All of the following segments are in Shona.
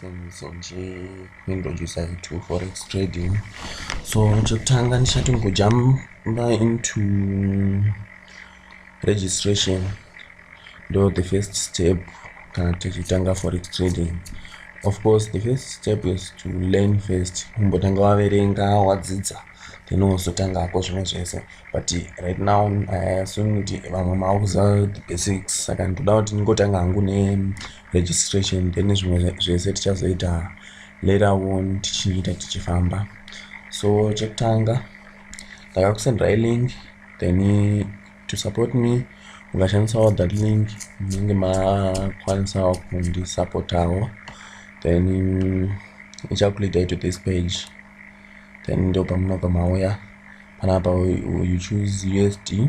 Senzwa nje kuintroducer itu forex trading so chekutanga ndichati ngojamba into registration ndo the first step kana tichitanga forex trading of course the first step is to learn first kumbotanga waverenga wadzidza then wozotangako zvimwe zvese but right now iassume kuti vamwe maakuziva the basics saka ndoda kuti ndingotanga hangu ne registration then zvimwe zvese tichazoita later on tichiita tichifamba so chekutanga ndakakusendera ilink then to support me ukashandisawo that link munenge makwanisawo kundisupportawo then ichakuleadai to this page then ndo pamunobva mauya panapa you choose usd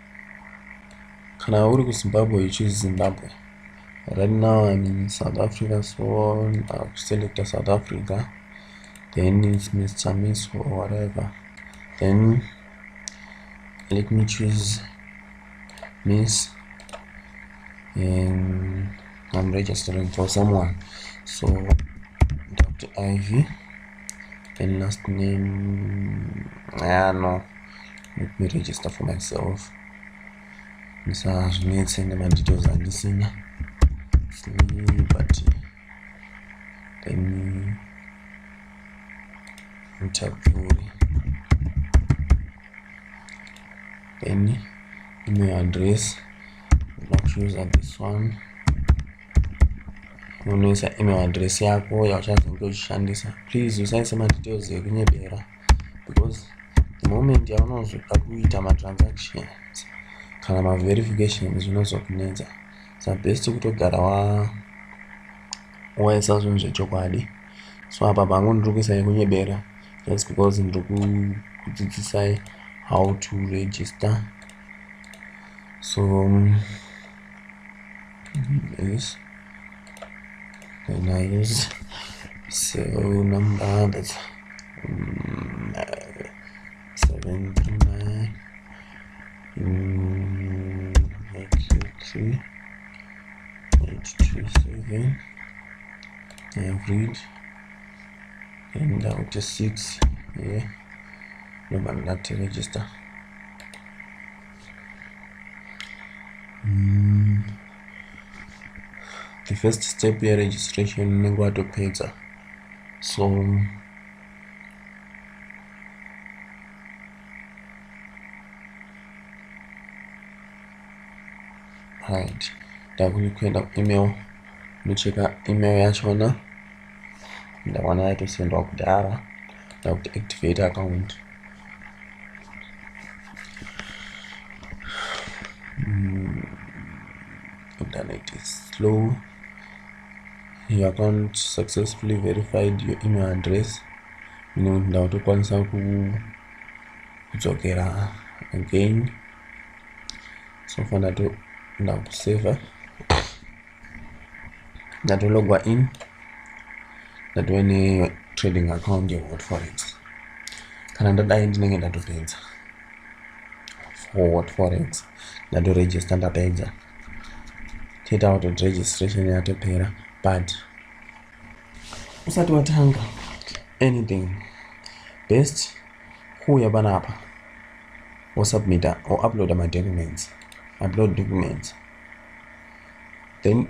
kana uri kuzimbabwe you choose zimbabwe right now i'm in south africa so i'll select a south africa then it's mr miss or whatever then let me choose miss and i'm registering for someone so dr ivy then last name ah no let me register for myself ndisazvinetse nemadetails andisina but then mutapuri then email address let's use this one unoisa email address yako yauchazenge uchishandisa please usaise madetails ekunyebera because the moment yaunozoda kuita matransactions kana maverification zvinozokunetsa sa best kutogara wa waisa zvinhu zvechokwadi so apa pangu ndiri kuisa yekunyebera just because ndiri kudzidzisai how to register so um, yes then i use so number that's um, seven to nine um, eight two three eight two seven average and down to six yeah no man not to register mm. the first step yeregistration unenge watopedza so right ndakuenda kuemail unocheka email yachona ndaona yaitosendwa kudhara ndakuti activate account mm, internet is slow your account successfully verified your email address ine kuti ndakutokwanisa kudzokera again so far ndato ndakusaver ndatologwa in ndatove netrading account yehot forex kana ndadai ndinenge ndatopedza for hot forex ndatoregister ndapedza toita kuti registration yatopera but usati watanga anything best kuuya panapa wosubmita wouploada madocuments upload documents then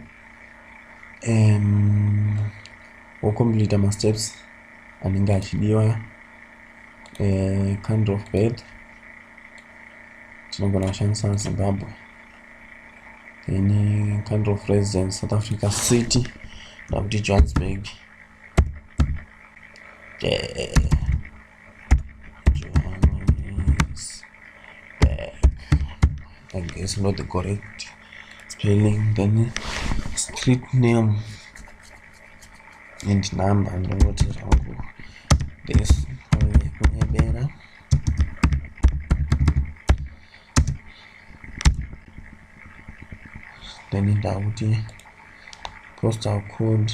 um, wocompleta masteps anenge achidiwa uh, eh, kind of bed tinogona kushandisa zimbabwe then eh, kind of residence south africa city nakuti johannesburg yeah. I guess not the correct spelling then street name and number ndongoti zvangu this kunyebera then ndakuti postal code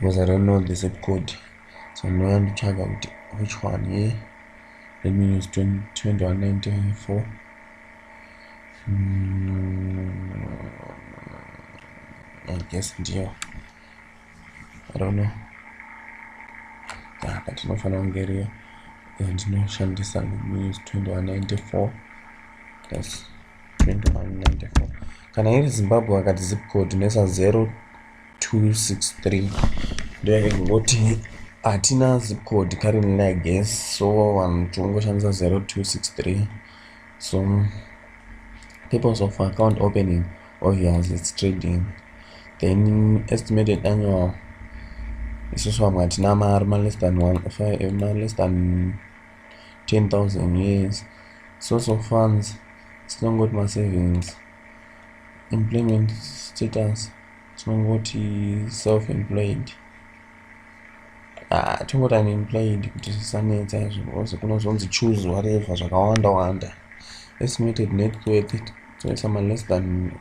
because I don't know the zip code so ndinouya nditsvaga kuti which one ye yeah? let me use 2194 mm, I guess ndiyo I don't know yeah, but inofanira kunge iriyo and ndinoshandisa let me use 2194 yes 2194 kana iri zimbabwe akati zip code nesa 0263 ndoyakangoti hatina zip code currently i guess so vanhu tingoshandisa 0263 so purpose of account opening obvious its trading then estimated annual isusu vamwe hatina mari maless than one five maless than 10000 years source of funds tinongoti masavings employment status tinongoti self employed ah, tingoti unemployed kuti zvisanetsa izvo because kunozonzi choose whatever zvakawanda wanda estimated net worth tinoisa maless than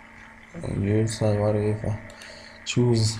uh, user whatever choose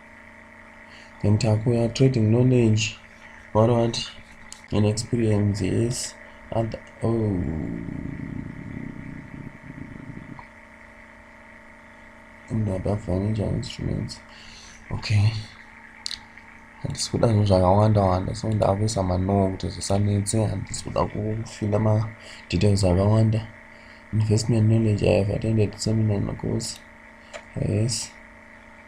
then takuya trading knowledge vano vati and experience yes other oh and other financial instruments okay handisi kuda zvinhu zvakawanda wanda so ndavesa manoo kuti zvisanetse handisi kuda kufila madetails akawanda investment knowledge i have attended seminar in a course yes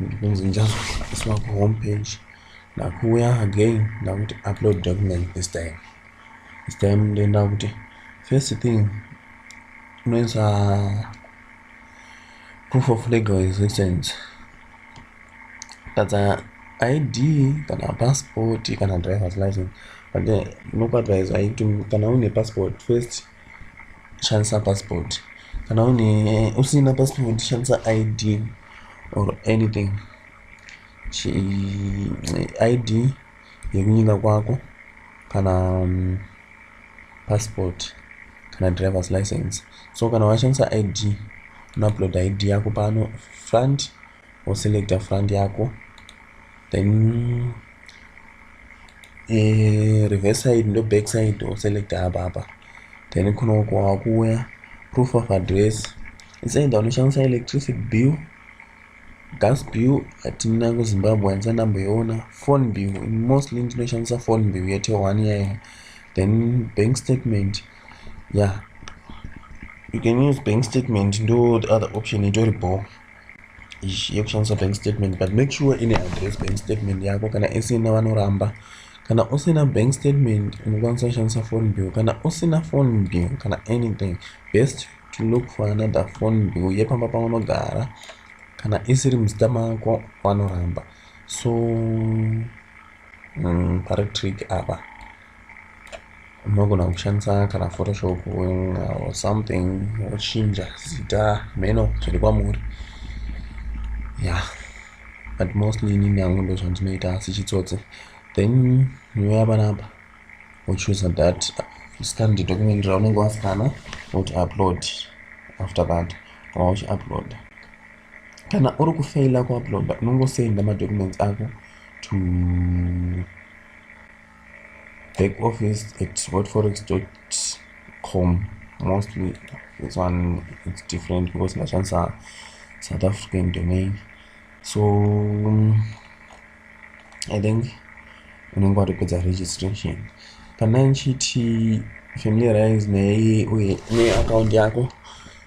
ndikunzi ndichazoiswa kuhome page ndakuuya again ndakuti upload document this time this time ndoenda kuti first thing unoisa proof of legal existence tadza id kana passport kana driver's license but unokuadvisa kuti kana une passport first shandisa passport kana une usina passport shandisa id or anything Chi, id yekunyika kwako kana um, passport kana drivers license so kana washandisa id unouploada id yako pano front woselecta front yako then eh, reverse side ndo back side woselecta apa apa then kunoko wakuuya proof of address insaida unoshandisa electricity bill gas bill hatina kuzimbabwe handisa ndamboiona phone bill mostly ndinoshandisa phone bill yete one yaya then bank statement yeah you can use bank statement ndo other option itori bhoo yekushandisa bank statement but make sure ine address bank statement yako kana isina vanoramba kana usina bank statement unokwanisa kushandisa phone bill kana usina phone bill kana anything best to look for another phone bill yepamba paunogara kana isiri muzita mako vanoramba so Mm, pari trick apa unogona kushandisa kana photoshop or something wochinja zita meno zviri kwamuri ya yeah. but mostly inini yangu ndo zvandinoita asi chitsotsi then nyuya panapa wochoosa that scan the document raunenge waskana woti upload after that kana uchiuploada kana uri kufaila kuuploada unongosenda madocuments ako to back office at whatforex com mostly this one it's different because ndashandisa south african domain so um, i think unenge watopedza registration kana nchiti familiarize neye uye neaccount yako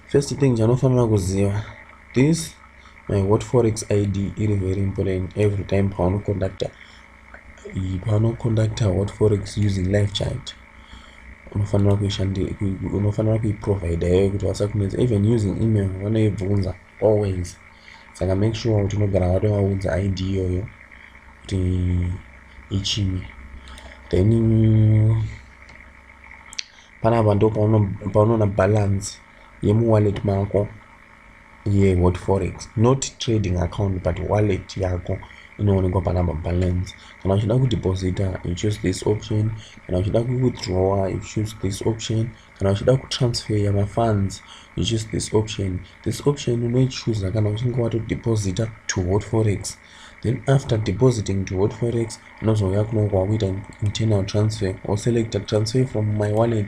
first thing chanofanira kuziva this my what forex id iri very important every time paunoconducta paunoconducta what forex using life chart unofanira kuishandira unofanira kuiprovider yekuti vasakunetsa even using email vanoibvunza always saka make sure kuti unogara watovaudza id iyoyo kuti ichii then panapa ndo paunoona balance yemuwallet mako yehot forex not trading account but wallet yako inoonekwa panapa balance kana uchida kudeposita you choose this option kana uchida kuwithdrawa you choose this option kana uchida kutransferya mafunds you choose this option this option unoichuza kana uchinge watodeposita to hot forex then after depositing to hot forex unozouya kunonge wakuita internal transfer or selecta transfer from my wallet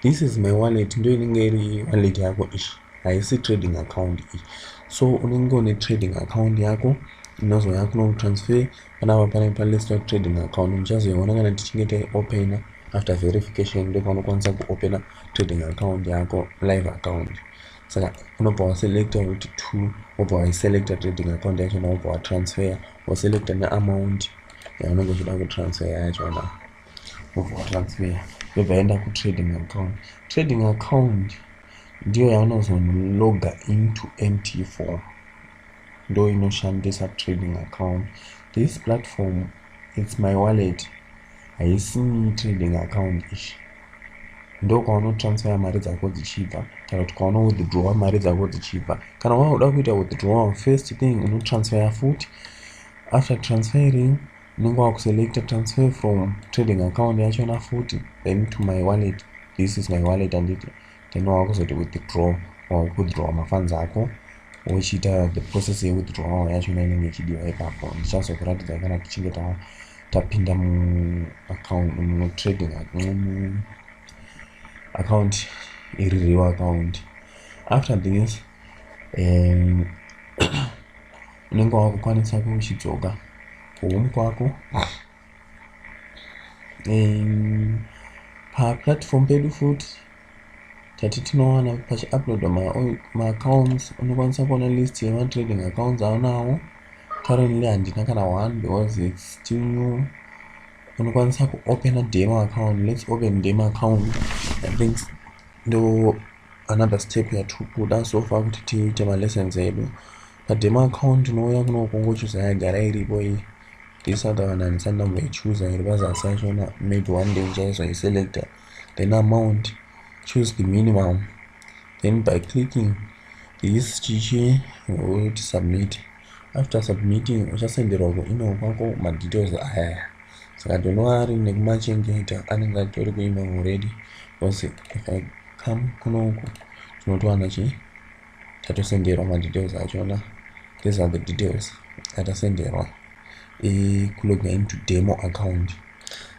this is my wallet ndo inenge iri wallet yako ishi haisi trading account iyi so unenge une trading account yako inozouya kunokutransfer Panapa panenge pa list of trading account muchazoiona kana tichinge taiopena after verification ndokwaunokwanisa kuopena trading account yako live account saka unobva waselecta kuti two wobva waiselecta trading account yacho na wobva watransfer waselecta neamount yaunenge uchida kutransfer yacho na wobva watransfer yobva yaenda kutrading account trading account ndiyo yaunozonoga into mt4 ndo inoshandisa trading account this platform its my wallet haisi trading account ichi ndo kwaunotransfera mari dzako dzichibva kana kuti kwaunowithdrawa mari dzako dzichibva kana wakuda kuita withdrawal first thing unotransfera futi after transferring unenge wakuselecta transfer from trading account yachona futi then to my wallet this is my wallet anditi then wakuzoita withdraw wakudraw mafunds ako wochiita the process yewithdrawal yacho inenge ichidiwa ipapo ndichazokuratidza kana tichinge tapinda muaccount mutrading account iri real account after this um, unenge wakukwanisa kuchidzoka kuhome kwako um, paplatform pedu futi tati tinowana pachiupload maaccounts unokwanisa kuona list yematrading accounts aunawo currently handina kana one because its still new unokwanisa kuopena demo account lets open demo account i think ndo another step yatikuda so far kuti tiite malessons edu Pademo account unouya kuno ukongochuza yagara iripo iyi ndisaka vanhu handisati ndamboichuza iri pazasi yachona maybe one day ndichaizoiselecta then amount choose the minimum then by clicking this chichi woti submit after submitting uchasenderwa kuemail kwako madetails ayaya saka ndonova ari nekumachengeta anenge atori kuemail already because if i come kuno uku tinotowana chii tatosenderwa madetails achona these are the details atasenderwa ekuloga into demo account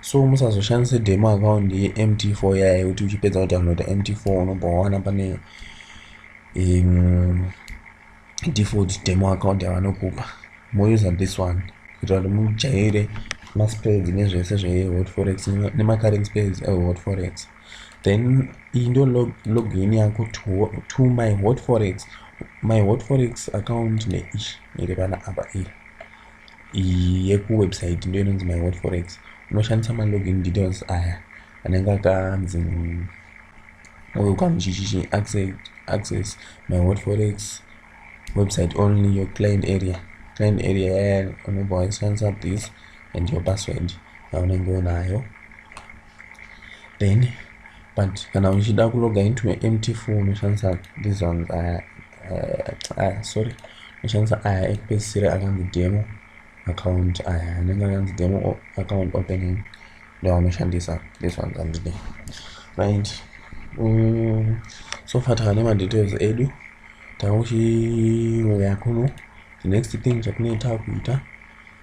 so musazoshandise demo account yemt4 yaye kuti uchipedza kudownloada mt4 unobva wawana pane um, default demo account yavanokupa mouse this one kuitira kuti mujaire maspreads nezvese zvehot forex nemacurrent space ehot forex uh, then iyi ndo log, login yako to, to my hot forex my hot forex account neish iri pana apa iyi iyi yekuwebsite ndo inonzi my hot forex unoshandisa malogin details aya anenge akanzi uyu kamuchichichi access, access my hot forex website only your client area client area yaya unobva waishandisa this and your password yaunenge unayo then but kana uchida kuloga into my empty full unoshandisa these ones aya uh, aya sorry unoshandisa aya ekupedzisira akanzi demo account aya anenge akanzi demo account opening ndovanoshandisa these ones andide right um, so far takane madetails edu takuchiuya kuno the next thing chatinoita kuita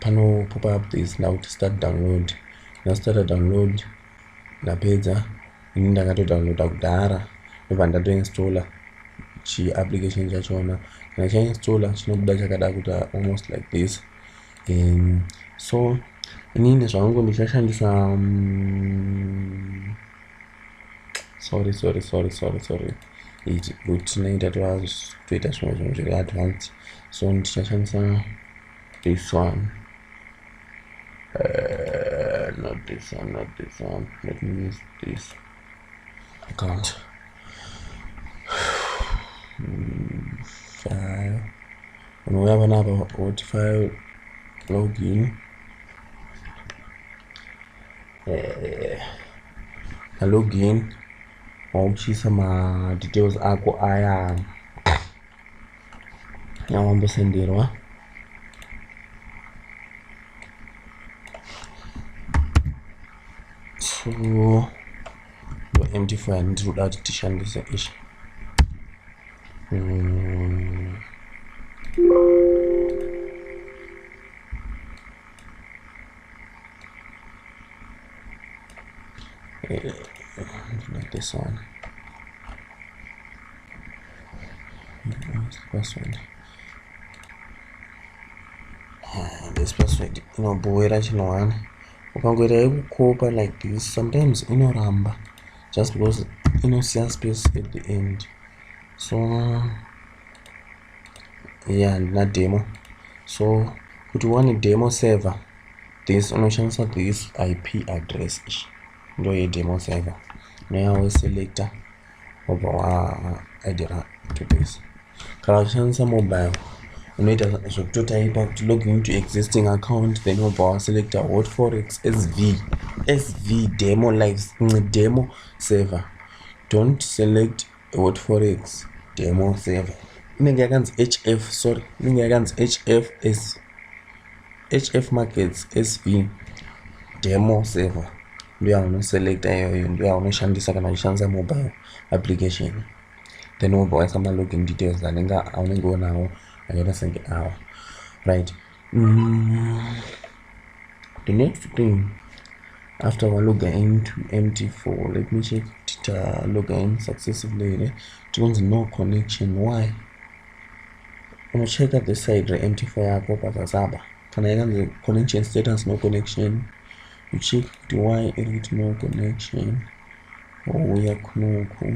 pano pop up this now to start download na starta download ndapedza ini ndakatodownloada kudhara ndobva ndatoinstalla chiapplication chachona kana chainstalla chinobuda chakada kuita almost like this um, so inini zvangu ndichashandisa um, sorry sorry sorry sorry sorry, sorry. iti but tinoita toita zvimwe zvinhu zviri advanced so ndichashandisa this one uh, not this one not this one let me use this account file unouya panapa woti file login uh, eh, login wauchiisa madetails ako aya awambosenderwa so no empty file ndiri kuda kuti tishandise ichi mm. like this one password ah, this password inobhowera chino one ukangoita yekukopa like this sometimes inoramba just because inosiya space at the end so yeah ndina demo so kuti one demo server this unoshandisa this ip address ichi ndo yedemo server noyawo selector wobva waaidira to this kana uchishandisa mobile unoita zvekutotaipa kuti login to existing account then wobva waselecta hot forex sv sv demo lives demo server don't select What forex demo 7 inenge yakanzi hf sorry inenge yakanzi hf s hf markets sv demo 7 ndiyo yaunoselecta iyoyo ndiyo yaunoshandisa kana uchishandisa mobile application then wobva waisa malogin details anenge aunenge unawo akaita senge awa right Mm. The next thing after wa logger in to mt4 let me check kuti ta logger in successively here tikunzi no connection why unocheka the side remt4 yako pazazaba kana yakanzi connection status no connection you check kuti why iri kuti no connection wouya kunoku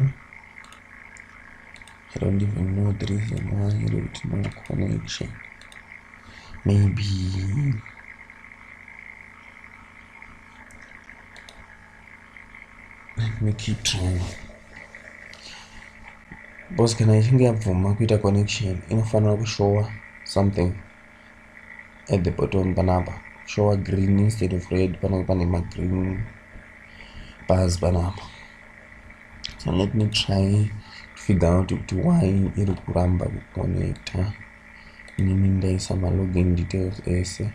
I don't even know the reason why I don't know connection. Maybe let me keep trying. Boss, kana ichinge yabvuma kuita connection inofanira kushowa something at the bottom panapa showa green instead of red panenge pane magreen bars panapa so let me try to figure out kuti why iri kuramba kuconnecta inini ndaisa malogin details ese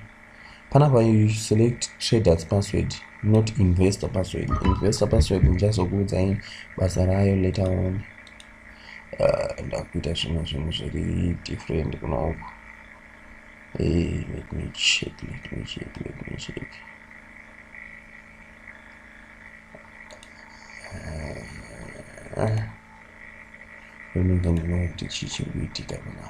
panapa you select traders password not investor password investor password ndichazokuudzai basa rayo later on uh, ndakuita zvimwe zvinhu zviri different kuna uku hey, eh, let me check let me check let me check uh, ndinonga ndinoona kuti chii chiri kuitika pana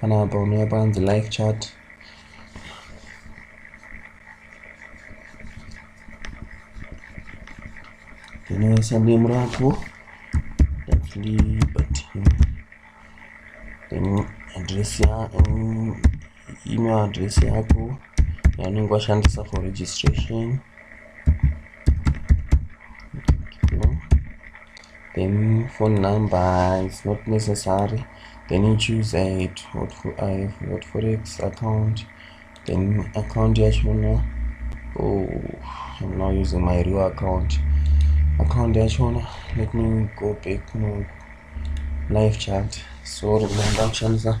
panapa unouya panzi like chat ndinoisa name rako ndibati then address ya email address yako yaunenge washandisa for registration then phone number is not necessary then you choose a what for i what forex account then account yachona oh i'm now using my real account account yachona let me go back no live chat so ndakushandisa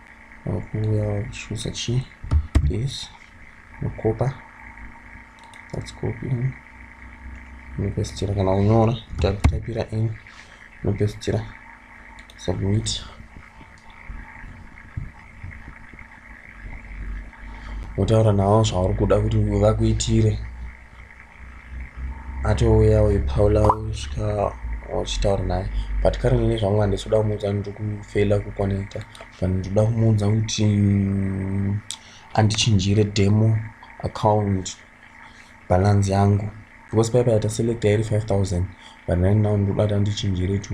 wakuuya wakuchuza chi this unokopa let's copy in unopesitira kana kunyora tapira in unopesitira submit wotaura navo zvauri kuda kuti vakuitire atouya uyu paula usvika wachitaura naye but kare nene zvangu handisi kuda kumuudza ndiri kufeila kuconnecta but ndikuda kumuudza kuti mm, andichinjire demo account balance yangu because paipa yata select yairi 5000 but right now ndikuda kuti andichinjire to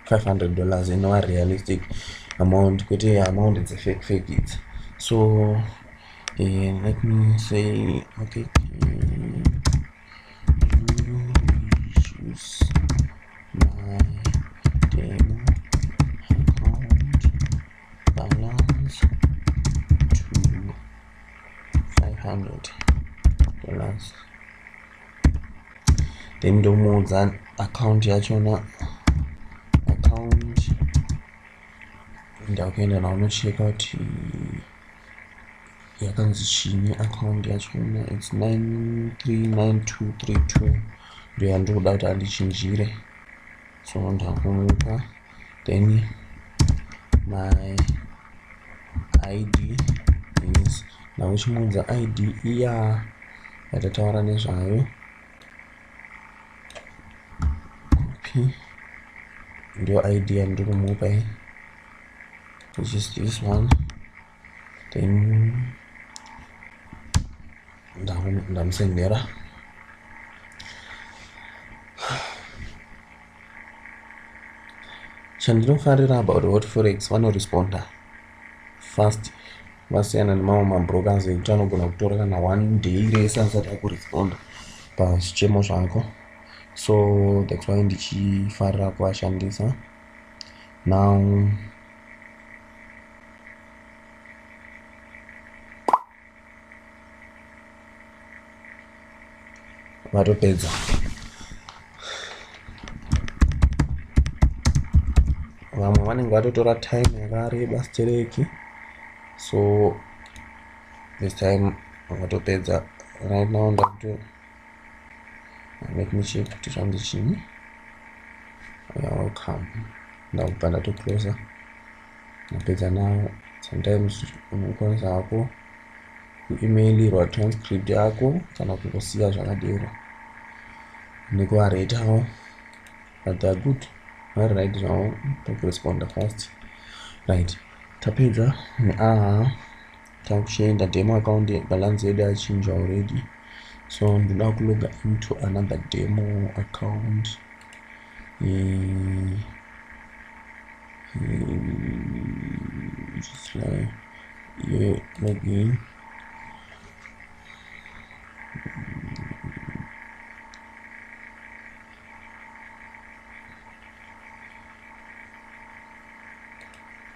500 dollars inowa realistic amount kwete amount dzefake fake idzi so Eh, let me say okay then ndomuudza account yachona account ndakuenda nawo unocheka kuti yakanzi chini account yacho na its 939232 ndo yandinoda kuti andichinjire so ndakumupa then my id is now uchimuudza id iya yatataura nezvayo copy ndio id yandiri kumupa iyi which is this one then ndamusendera chandinofarira about hot forex vanoresponda fast vasiyana nemamwe mabrokers ekuti anogona kutora kana one day rese asati akuresponda pazvichemo zvako so that's why ndichifarira kuvashandisa now vatopedza vamwe vanenge vatotora time yakareba stereki so this time vatopedza right now ndakuto let me check kuti zvanzi chini you're welcome ndakubva ndatocloser napedza nawo sometimes unokwanisa hako kuemailirwa transcript yako kana kungosiya zvakadero nekuvaretawo but they're good vari right zvavo tokuresponda fast right tapedza neaha takuchienda demo account balance yedu yachinja already so ndoda kuloga into another demo account mm. Mm. just like yeah, login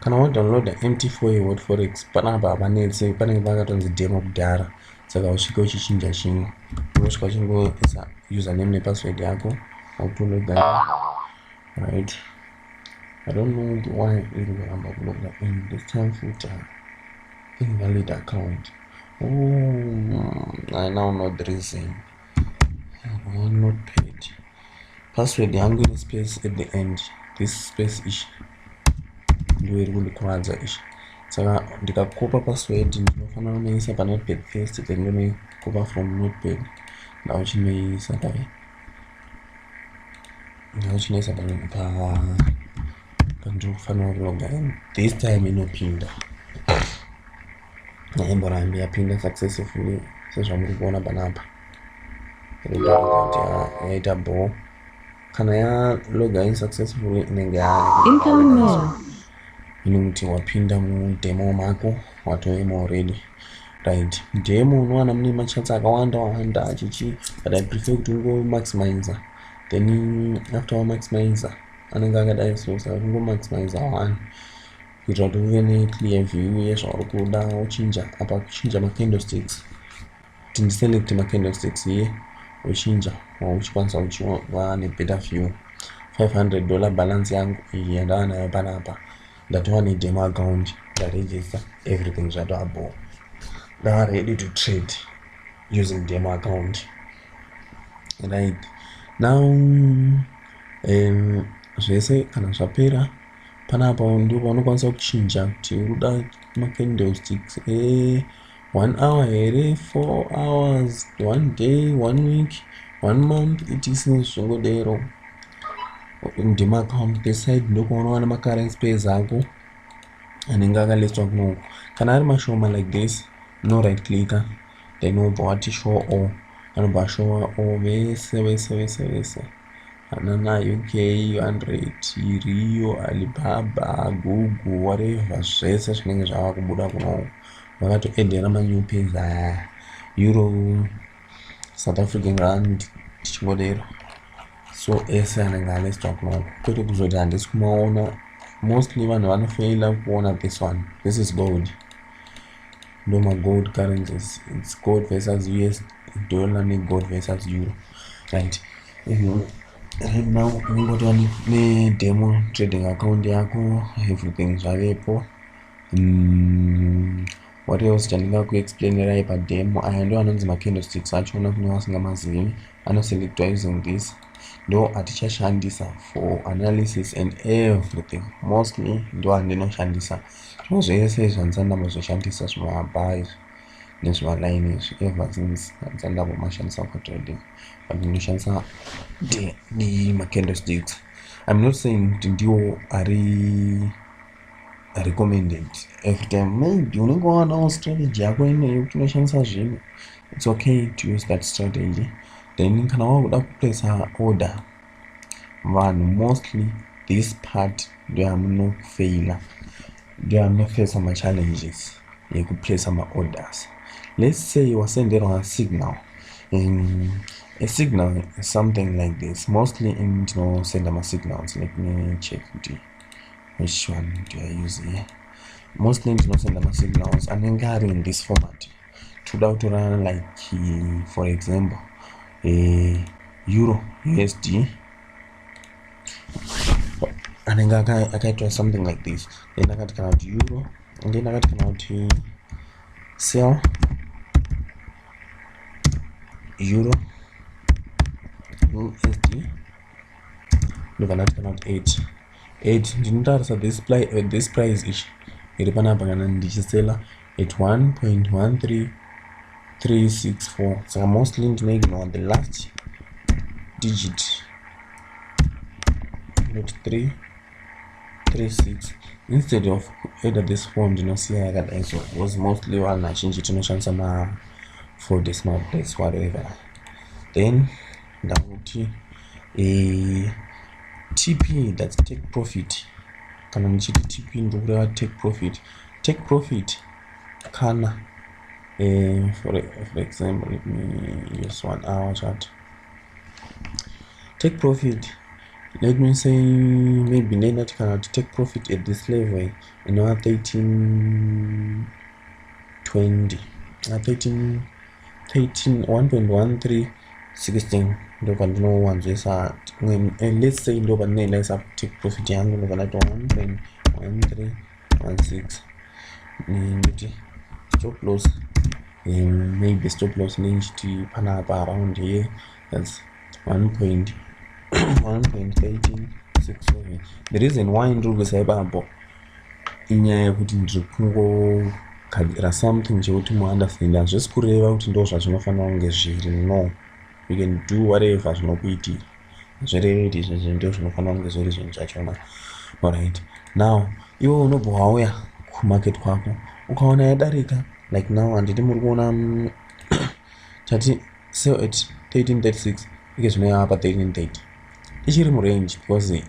kana wadownloada mt4 yeword forex panapa hapanetse panenge pakatonzi demo kudhara saka usvike uchichinja chimwe unosvika uchingoisa username nepassword yako akutonoga right i don't know why iri kuramba kuloga in this time futa invalid account oh, i now know the reason notepad password yangu ine space at the end this space ishi ndiyo iri kundikwadza ishi saka ndikakopa password ndinofanira kunoisa panotepad first then ndonoikopa from notepad ndauchinoisa pai ndauchinoisa pa pandiri kufanira kuloga in this time inopinda haimborambi yapinda successively sezvamuri kuona panapa yaita bho kana yaloga in successfully inenge ine muti wapinda mudemo mako watoema already right demo unowana mune machats akawanda wawanda achichi but i prefer kuti ungomaximizer then after wamaximizer anenge akadai so sakungomaximizer one kuitira kuti uve neclear view yezvauri kuda wochinja apa kuchinja macandlesticks kuti ndiselect macandlesticks iye wochinja wauchikwanisa uchiva nebetter view 500 dollar balance yangu iyi yandava nayo panapa ndatova nedemo account ndaregister everything zvatova bo ndava ready to trade using demo account right now um, zvese kana zvapera panapa ndipo paunokwanisa kuchinja kuti uruda macandlesticks e eh, one hour here four hours one day one week one month etc zvingodero ndimacount peside ndokwaunowona macurrency pays ako anenge akaletswa kunoko kana ari mashoma like this no right clicker then wobva wati show all anobva ashowa all vese vese vese vese Hanana UK 100 Rio Alibaba Google whatever zvese zvinenge zvava kubuda kuno vakatoendera manew pins aya Euro South African Rand tichingodero so ese anenge aneswa kuno kwete kuzoti handisi kumaona mostly vanhu vanofaila kuona this one this is gold ndoma gold currencies its gold versus us kudhora negold versus euro right if you right now unongotova nedemo trading account yako everything zvavepo mm, what else chandinga kuexplainerai pademo aya ndo anonzi macandlesticks acho una kune vasingamazivi anoselectwa using this ndo atichashandisa for analysis and everything mostly ndo andinoshandisa zvimwe zvese zvanzandambozoshandisa zvimwe abha izvi nezvimaline izvi ever since dzandambomashandisa for trading but ndinoshandisa nemacandlesticks i'm not saying kuti ndiwo ari recommended every time maybe unenge wawanawo strategy yako ineyo kuti unoshandisa zvinhu it's okay to use that strategy then kana wakuda kuplacer order vanhu mostly this part ndoyamunofeila ndoyamunofesa machallenges yekuplaca maorders let's say wasenderwa signal in a signal is something like this mostly in tinosenda masignals let me check kuti which one do i use here mostly tinosenda masignals anenge ari in this format toda kutorana like for example eh, euro usd anenge akaitwa something like this then akati kana kuti euro and then akati kana kuti sell euro usd ndobva ndati kana kuti eight eight ndinotarisa this, uh, this price ichi iri panapa kana ndichisela at 1.13364 saka mostly ndinoignore the last digit not 3 36 instead of either this form ndinosiya yakadai so because mostly vanhu vazhinji tinoshandisa ma four decimal plates whatever then ndakuti eh, tp thats take profit kana ndichiti tp ndokureva take profit take profit kana eh, for, for example let me use one hour chart take profit let me say maybe ndendati kana kuti take profit at this level eh, inova 1320 na 13 13 121 316 ndo pandinowanzoisa and let's say ndo pandinoendesa take profit yangu ndo pandaita 1.1316 nditi stop loss um, maybe stop loss nechiti panapa around here that's 1.1367 the reason why ndiri kuisa ipapo inyaya yekuti ndiri kungogadzira something chekuti muunderstand hazvisi kureva kuti ndo zvazvinofanira kunge zviri no you can do whatever zvinokuitira hazvireve kuti izvi zvinhu ndo zvinofanira kunge zviri zvinhu zvachona orit now iwe unobva wauya kumarket kwako ukaona yadarika like now handiti muri kuona mm, chati sell at 1336 ike zvino yava pa 1330 ichiri murange because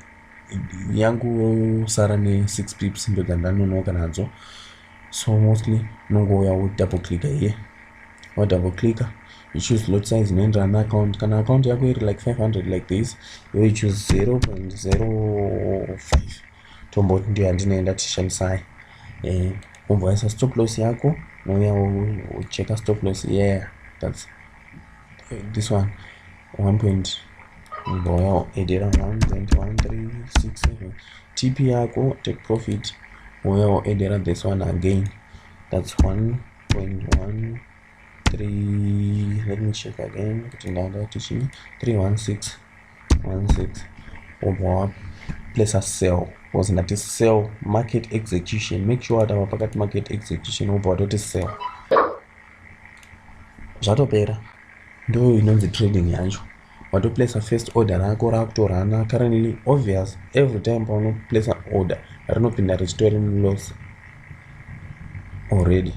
yangosara ne6 pips ndo dzandanonoka nadzo so mostly unongouya wo double click here wa double click you choose lot size inoenderana na account kana account yako iri like 500 like this iwe you choose 0.05 tomboti ndiyo yandinoenda tishandisai eh, umboisa stop loss yako unouya ucheka stop loss yeah that's this one 1 point mboya edera 1.1367 tp yako take profit uya waedera this one again that's 1.1 3 let me check again kuti ndanga tichii 316 16 wobva wapo place a sell was ndati sell market execution make sure that our pakati market execution wobva watoti sell zvatopera ndo inonzi trading yacho watoplacer first order rako rakutorana currently obvious every time paunoplacer order rinopinda richitori loss already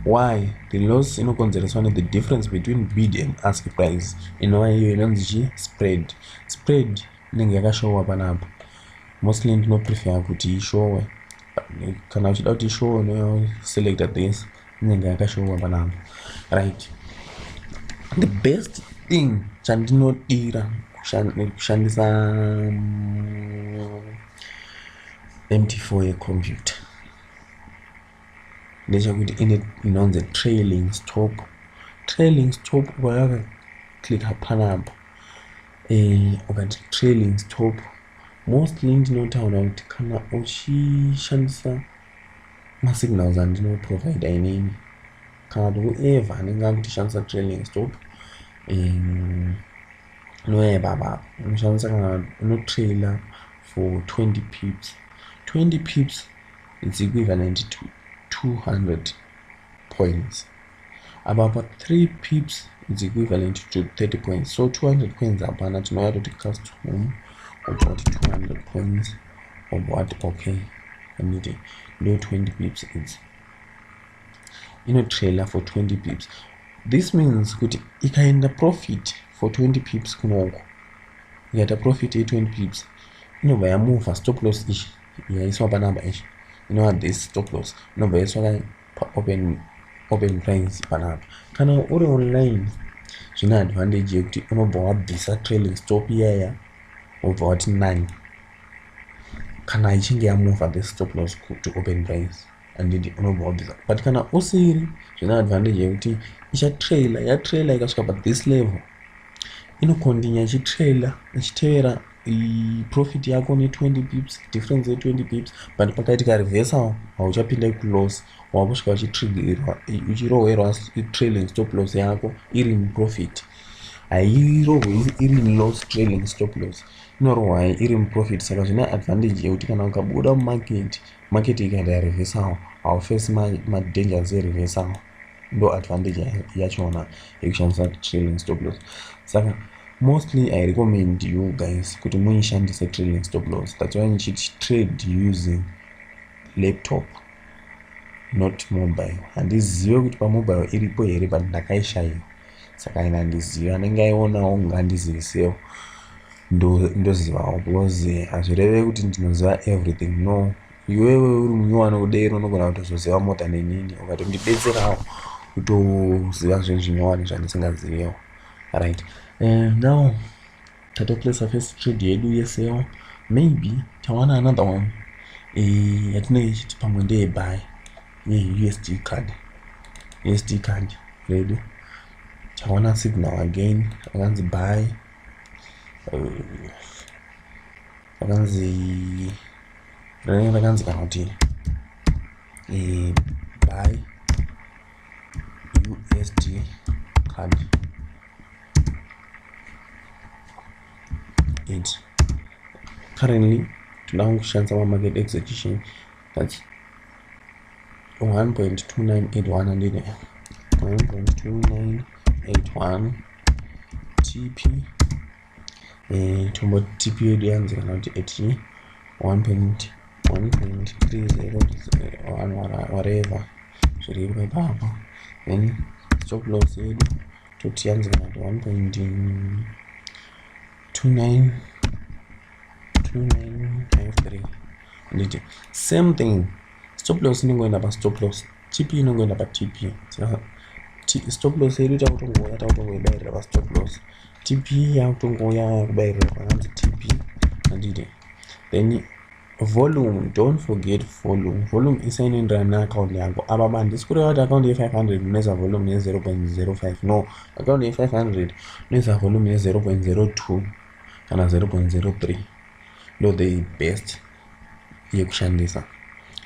why the loss inokonzereswa ne the difference between bid and ask price inova iyo inonzi chi spread spread inenge yakashowa panapa mostly ndinoprefer kuti ishowe kana uchida kuti show no select this inenge yakashowa panapa right the best thing chandinodira kushandisa mt4 mm, yecomputer ndechekuti ine inonzi trailing stop trailing stop ukayaka click panapa eh, ukati trailing stop mostly ndinotaura kuti kana uchishandisa masignals andinoprovidha inini kana kuti whoever anenge akutishandisa trailing stop um, noye baba unoshandisa kana unotrailer for 20 pips 20 pips it's equivalent to 200 points apa pa 3 pips is equivalent to 30 points so 200 points hapana tinouya toti cast home obva kuti 200 points obva wati okay anditi ndo 20 pips idzi inotrailer for 20 pips this means kuti ikaenda profit for 20 pips kunoko ikaita profit ye 20 pips inobva yamova stop loss ichi yaiswa panamba ichi inova this stop loss inobva yaiswa paopen open price panapa kana uri online zvine advantage yekuti unobva wabvisa trailing stop iyaya wobva wati nine kana ichinge yamova the stop loss to open price andidi unobva wabvisa but kana usiri zvine advantage yekuti ichatrailer yatrailer ikasvika pa this level inokondinya ichitrailer ichitevera profit yako ne 20 pips difference ye 20 pips but pakaitika reversal hauchapinda ikuloss wakusvika uchitrigirwa uchirohwerwa trailing stop loss yako iri muprofit hairohwe iri loss trailing stop loss inorohwa iri muprofit saka zvine advantage yekuti kana ukabuda mumarket market ikaita reversal haufesi madangers ereversal ndo advantage yachona yekushandisa trailing stop loss saka mostly i recommend you guys kuti muishandise trailing stop loss that's why ndichiti trade using laptop not mobile handizive kuti pamobile iripo here but ndakaishaiwa saka ina handizive anenge aionawo kunge andizivisewo ndozivawo because hazvireve kuti ndinoziva everything no iwewe uri munyowani kudero unogona kutozoziva mota nenini ukatondibetserawo kutoziva zvinhu zvinyowani zvandisingazivewo right eh, now tatoplace first trade yedu yesewo maybe tawana another one eh, yatinenge ichiti pamwe ndeyebhayi yeusd card usd card redu tawana signal again akanzi bhayi eh, rakanzi rakanzi kana kuti eh, buy usd card it currently tinoda kushandisa mamarket execution that's 1.2981 1.2981 tp eh, tombo tp yedu yanzi kana kuti at 1.1.30 whatever zviri iro ipapo then stop loss yedu toti yanzi kana kuti 1.29 2953 nditi same thing stop loss inengoenda pastop loss tp inongoenda patp stop loss yedu takutongouya takutongoibairira pastop loss tp yakutongouya yakubairira pananzi tp andite then volume don't forget volume volume isainoenderana neaccount yangu apa mandisi kureva kuti account ye500 unoisa volume ye0.05 no account ye500 unoisa volume ye0.02 kana 0.03 ndo the best yekushandisa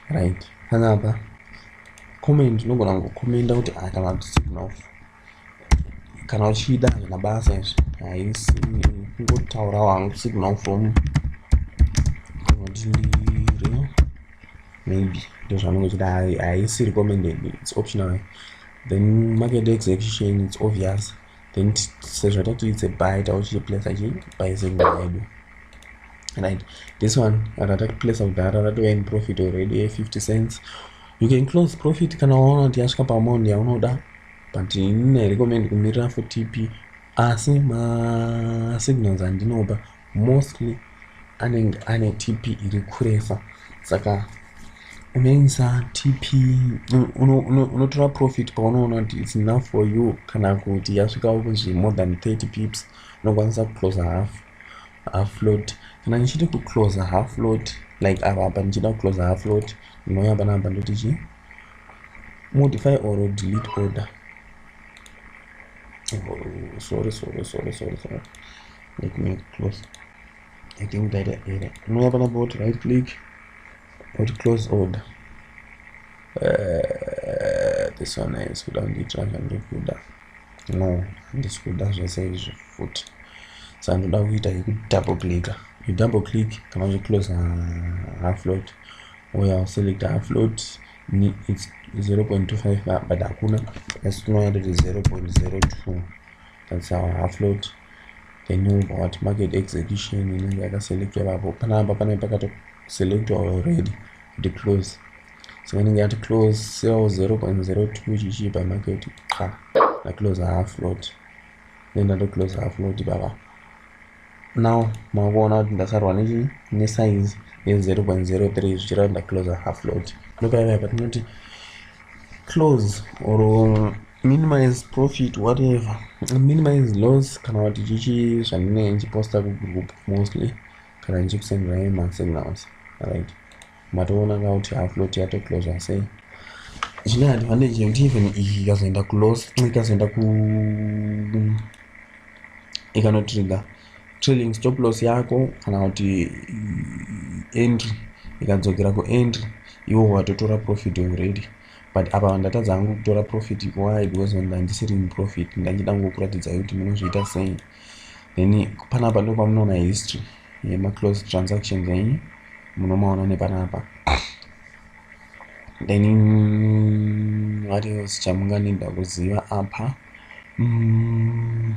right panapa comment unogona kungokomenda kuti ah, kana kuti signals kana uchida hazvina basa izvi haisi kungotaura wangu signal from ndiri maybe ndozvanenge uchida haisi recommended its optional then market execution its obvious then sezvo tatiitse by tauchichiplacer chi by zenda yedu right this one kana takiplacer kudhara ratova in profit already 50 cents you can close profit kana waona kuti yasvika paamount yaunoda but ine recommend kumirira for tp asi masignals andinopa mostly anenge ane tp iri kuresa saka unoisa tp unotora profit paunoona kuti its enough for you kana kuti yasvikawo kunzvi more than 30 pips unokwanisa kuclosa half half lot kana ndichiti kuclosa half lot like ava apa ndichida kuclosa half lot ndinouya panapa ndoti chii modify or delete order oh, sorry sorry sorry sorry sorry let me close i think ndaita error unouya panapa woti right click woti close order uh, this one is kuda kundiitira zvandikuda no handisi kuda zvese izvi futi sa ndoda kuita yekudouble clicka you double click kana uchiclose half load uya uselect half load it's 0.25 but hakuna asi tinoyatoti 0.02 that's our half load then wobva wati market execution inenge yakaselectwa ipapo panapa panenge pakatoselectwa already kuti close so inenge yati close sell 0.02 chichipa market qa ndaclose half lot then ndatoclose half lot ipapa now makuona kuti ndasarwa nechi nesize ye 0.03 zvichireva ndaclose half lot ndopaiva patinoti close or minimize profit whatever minimize loss kana kuti chichi zvandinenge ndichiposta kugroup mostly kana ndichikusendera emasignals right matoona ka kuti aflot yatoclosa sei zvine advantage yekuti even iyi ikazoenda kulos ikazoenda ku ikanotrigger trading stop loss yako kana kuti entry ikadzokera kuentry iwo watotora profit already but apa ndatadza hangu kutora profit why because ndandisiri muprofit ndachida ngokuratidza kuti munozviita sei then panapa ndo pamunoona history yemaclose transactions enyu munomaona nepanapa then what else chamunganida kuziva apa mm.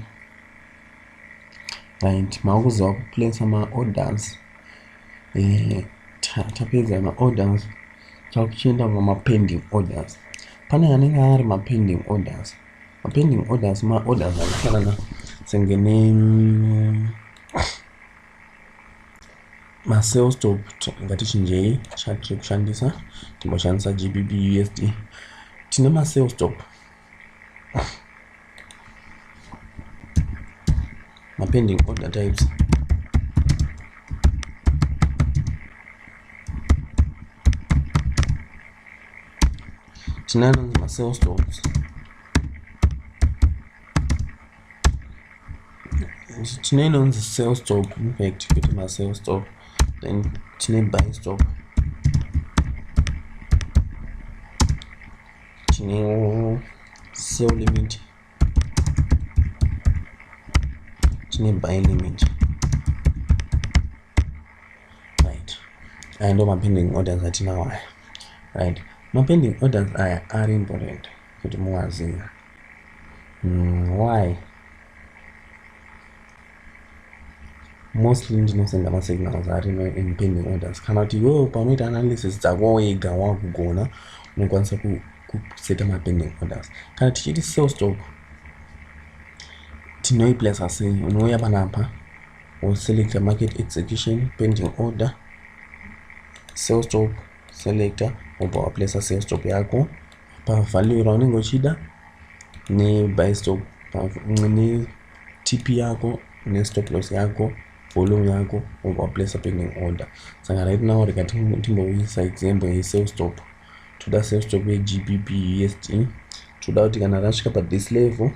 right makuziva kuplace maorders eh, tapedza maorders takuchienda pamapending orders pane anenge ari mapending orders mapending orders maorders anofanana senge ne masales top ngatichinjei chatiri kushandisa timboshandisa gbb usd tine masales top mapending order types tinana masales stocks tine inonzi sales stock impact kuti masales stock then tine buy stock tinewo sell limit tine buy limit right aya ndo mapending orders atinawo aya right mapending orders aya ari important kuti muwaziva mm, why mostly ndinosenda masignals ari no impending orders kana kuti iwewo paunoita analysis dzako wega wakugona unokwanisa kuseta mapending orders kana tichiti sell stock tinoiplacer sei unouya panapa woselecta market execution pending order sell stop selecta wobva waplacer sell stop yako pavalue raunenge uchida nebuy stop ne TP yako ne stop loss yako volume yako wobva waplacer pending order saka right now rikati timbouyisa example ye sell stop toda sell stop ye gbp usd toda kuti kana rasvika pa this level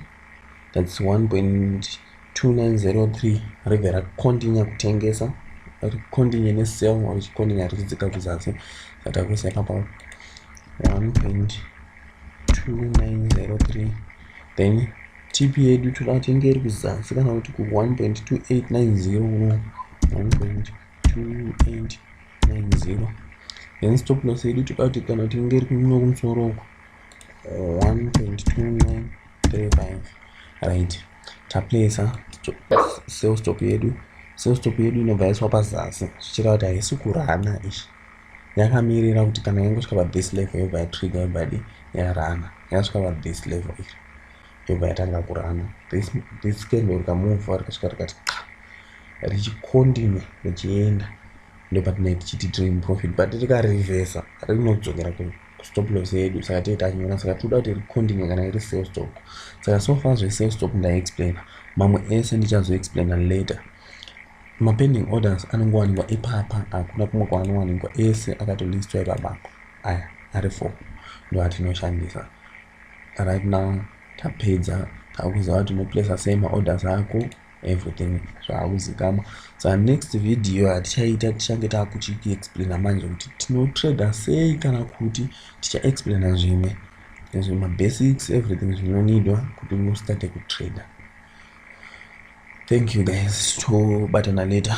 that's 1.2903 rega rakontinue kutengesa rikontinue ne sell richikontinue richidzika kuzasi saka takuisa ipapa 1.2903 then Tip yedu toda kuti inge iri kuzasi kana kuti ku 1.2890 uno 1.2890 then stop loss yedu toda kuti kana kuti inge iri kuno kumusoro uko 1.2935 right taplacer sales stop yedu sales stop yedu inobva yaiswa pazasi zvichireva kuti haisi kurana izvi yakamirira kuti kana yangosvika pathis level yobva yatrigger yobvadi yarana yakasvika pathis level iri ndobva yatanga kurana this candle rikamuvha rikasvika rikati qa richikontinue richienda ndopatinai tichiti tiri muprofit but rikarevhesa rinodzokera kustop loss yedu saka tee tanyora saka tinoda kuti rikontinue kana iri sale stock saka so far zvesale stock ndaiexplaina mamwe ese ndichazoexplaina later mapending orders anongowanikwa ipapa hakuna kumwe kwaanowanikwa ese akatolistwa ipapako aya ari four ndoatinoshandisa right now tapedza takuziva kuti unoplacer sei maorders ako everything zvaakuzikama sa next video hatichaita tichange taakuchiexplaina manje kuti tinotrader sei kana kuti tichaexplaina zvimwe ezvo mabasics everything zvinonidwa kuti ustate kutrader thank you guys tobatana later